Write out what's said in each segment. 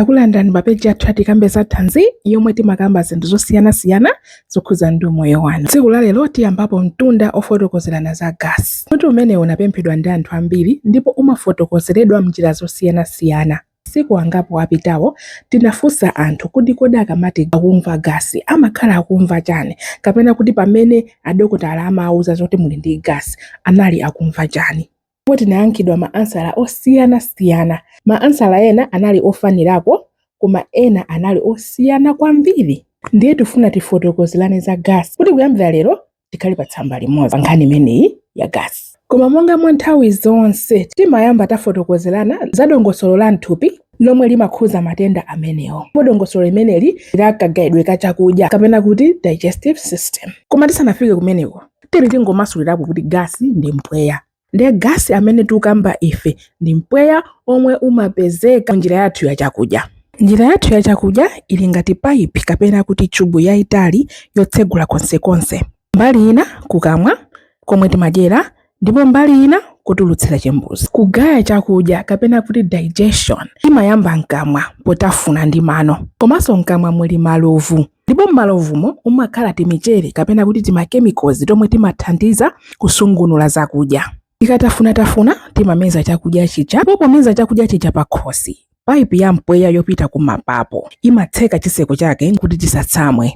Takulandirani pa peji yathu ya Tikambe za Thanzi yomwe timakamba zinthu zosiyanasiyana zokhudza ndi umoyo wanu. Tsiku la lero tiyambapo mtunda ofotokozerana za gasi. Mutu umenewu unapemphedwa ndi anthu ambiri ndipo umafotokozeredwa m'njira zosiyanasiyana. Masiku angapo apitawo tinafunsa anthu kuti kodi akamati akumva gasi amakhala akumva chani kapena kuti pamene adokotala amawauza zoti muli ndi gasi anali akumva chani. Ndipo tinayankhidwa ma ansala osiyana siyana. Ma ansala ena anali ofanirako koma ena anali osiyana kwambiri. Ndiye tifuna tifotokozerane za gasi kuti kuyambira lero tikhale pa tsamba limodzi pa nkhani imeneyi ya gasi. Koma monga mwa nthawi zonse timayamba tafotokozerana za dongosolo la mthupi lomwe limakhuza matenda amenewo. Ndipo dongosolo limeneli ndi la kagayidwe ka chakudya kapena kuti digestive system. Koma tisanafike kumeneko. tiri tingomasulirapo kuti gasi ndi mpweya ndiye gasi amene tikukamba ife ndi mpweya omwe umapezeka njira yathu ya chakudya njira yathu ya chakudya ili ngati paipi kapena kuti chubu yayitali yotsegula konsekonse mbali ina kukamwa komwe timadyera ndipo mbali ina kotulutsira chimbuzi kugaya chakudya kapena kuti digestion imayamba mkamwa potafuna ndi mano komanso mkamwa muli malovu Ndipo m'malovumo mumakhala timichere kapena kuti timakemikozi tomwe timathandiza kusungunula zakudya. Tikatafunatafuna timameza chakudya chija ndipo pomeza chakudya chija pakhosi, paipi ya mpweya yopita kumapapo imatseka chitseko chake kuti tisatsamwe.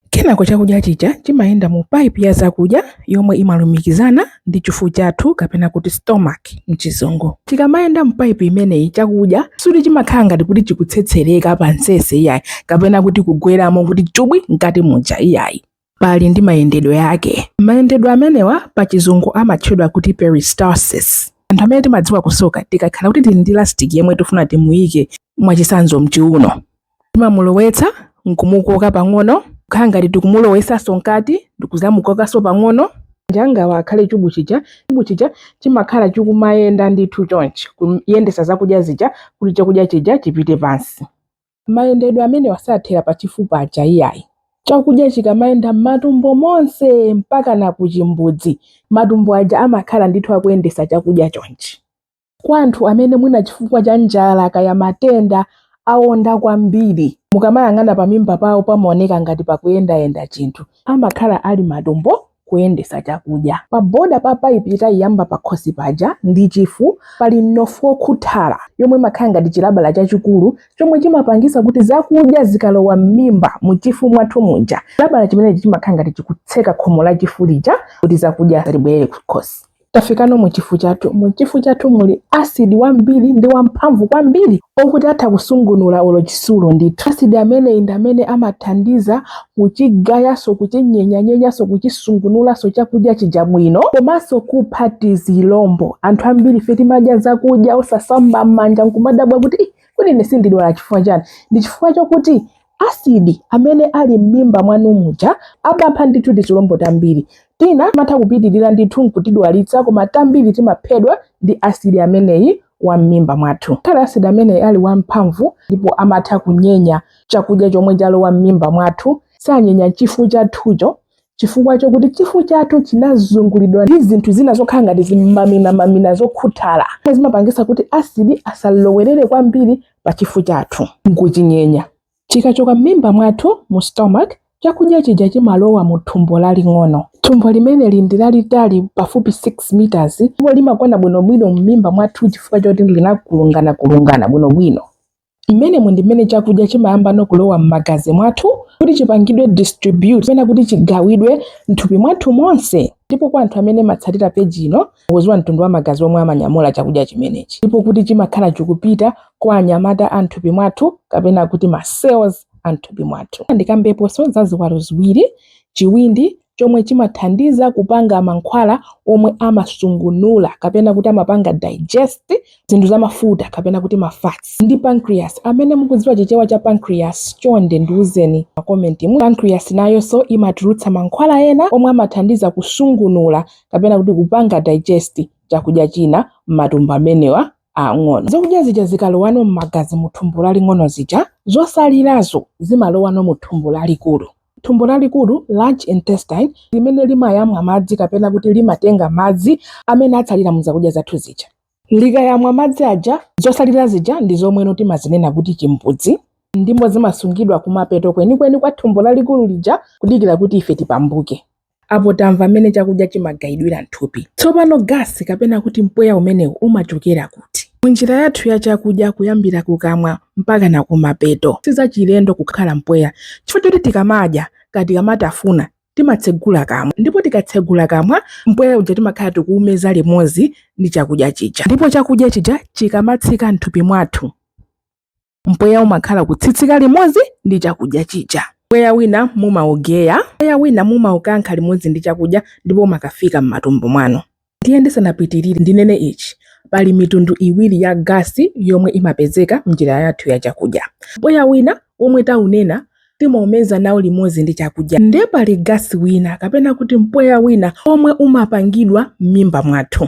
Kenako chakudya chija chimayenda mu paipi ya zakudya yomwe imalumikizana ndi chifu chathu kapena kuti stomach mchizungu. Chikamayenda mpaipi imeneyi chakudya suti chimakhala ngati kuti chikutsetsereka pa nsese iyayi kapena kuti kugweramo kuti chubwi mkati muja iyayi pali ndi mayendedwe ake. Mayendedwe amenewa pa chizungu amatchedwa kuti peristalsis. Anthu amene timadziwa kusoka tikakhala kuti tili ndi lastic yemwe tifuna timuyike mwachisanzo mchiuno Timamulowetsa nkumukoka pang'ono kukhala ngati tikumulowesanso mkati ndikuzamukokanso pang'ono manja angawa akhale chubu chija. Chubu chija chimakhala chikumayenda ndithu chonchi kuyendesa zakudya zija kuti chakudya chija chipite pansi. Mayendedwe amenewa sathera pachifu paja iyayi. Chakudya chikamayenda mmatumbo monse mpakana kuchimbudzi matumbo aja amakhala ndithu akuyendesa chakudya chonchi. kwa anthu amene mwina chifukwa cha njala kaya matenda awonda kwambiri mukamayang'ana pamimba pawo pamaoneka ngati pakuyendayenda chinthu amakhala ali matumbo kuyendesa chakudya pa boda pa paipi ija yayamba pakhosi paja ndi chifu pali mnofu wokhuthala yomwe imakhala ngati chilabala chachikulu chomwe chimapangisa kuti zakudya zikalowa m'mimba muchifu mwathu muja chilabala chimenechi chimakhala ngati chikutseka khomo la chifu lija kuti zakudya zisabwerere kukhosi Tafikano mu chifu chathu. Mu chifu chathu muli asidi wambiri ndi wamphamvu kwambiri okuti atha kusungunula olo chitsulo ndithu. Asidi ameneyi ndi amene amathandiza kuchigayanso, kuchinyenyanyenyanso, kuchisungunulanso chakudya chija bwino komanso kupha tizilombo. Anthu ambirife timadya zakudya osasamba m'manja n'kumadabwa kuti, Ih, kodi ine sindidwala chifukwa chiyani? Ndi chifukwa chokuti asidi amene ali m'mimba mwanu muja amapha ndithu tizilombo tambiri tina timatha kupitirira ndithu nkutidwalitsa koma tambiri timaphedwa ndi asidi ameneyi wa m'mimba mwathu ngakhale asidi ameneyi ali wamphamvu ndipo amatha kunyenya chakudya chomwe chalowa m'mimba mwathu sanyenya chifu chathucho chifukwa chokuti chifu chathu chinazungulidwa ndi zinthu zina zokhala ngati zimaminamamina zokhuthala zimapangitsa kuti asidi asalowerere kwambiri pa chifu chathu nkuchinyenya chikachoka m'mimba mwathu mu stomach chakudya chija chimalowa mu thumbo laling'ono thumbo limeneli ndi lalitali pafupi 6 meters ndipo limakwana bwinobwino m'mimba mwathu chifukwa choti linakulunganakulungana bwinobwino Mmenemu ndi mmene chakudya chimayambano kulowa m'magazi mwathu kuti chipangidwe distribute kapena kuti chigawidwe m'thupi mwathu monse. Ndipo kwa anthu amene mumatsatira page ino, mukudziwa mtundu wa magazi omwe amanyamula chakudya chimenechi. Ndipo kuti chimakhala chikupita kwa anyamata a m'thupi mwathu kapena kuti ma cells a m'thupi mwathu. Ndikambeponso za ziwalo ziwiri, chiwindi chomwe chimathandiza kupanga mankhwala omwe amasungunula kapena kuti amapanga digest zinthu zamafuta kapena kuti ma fats ndi pancreas amene mukudziwa chichewa cha pancreas chonde ndiuzeni pa comment mu pancreas nayonso imatulutsa mankhwala ena omwe amathandiza kusungunula kapena kuti kupanga digest chakudya china m'matumbo amenewa ang'ono zakudya zija zikalowano m'magazi mu thumbo laling'ono zija zotsalirazo zimalowano mu thumbo lalikulu Thumbo lalikulu, large intestine, limene limayamwa madzi kapena kuti limatenga madzi amene atsalira mu zakudya zathu zija. Likayamwa madzi aja, zotsalira zija ndi zomweno timazinena kuti chimbudzi ndipo zimasungidwa kumapeto kwenikweni kwa thumbo lalikulu lija kudikira kuti ife tipambuke. Apo tamva mmene chakudya chimagayidwira m'thupi. Tsopano gasi kapena kuti mpweya umenewu umachokera kuti? Munjira yathu ya chakudya kuyambira kukamwa mpakana kumapeto, sizachilendo kukhala mpweya chifukwa choti tikamadya kaya tikamatafuna timatsegula kamwa ndipo tikatsegula kamwa mpweya uja timakhala tikuumeza limodzi ndi chakudya chija ndipo chakudya chija chikamatsika m'thupi mwathu, Mpweya umakhala ukutsitsika limodzi ndi chakudya chija. Mpweya wina mumaugeya, mpweya wina mumaukankha limodzi ndi chakudya ndipo umakafika m'matumbo mwanu. Ndiye ndisanapitirire, ndinene ichi, Pali mitundu iwiri ya gasi yomwe imapezeka m'njira yathu ya chakudya. Mpweya wina womwe taunena timaumeza nawo limodzi ndi chakudya. Ndiye pali gasi wina kapena kuti mpweya wina womwe umapangidwa m'mimba mwathu.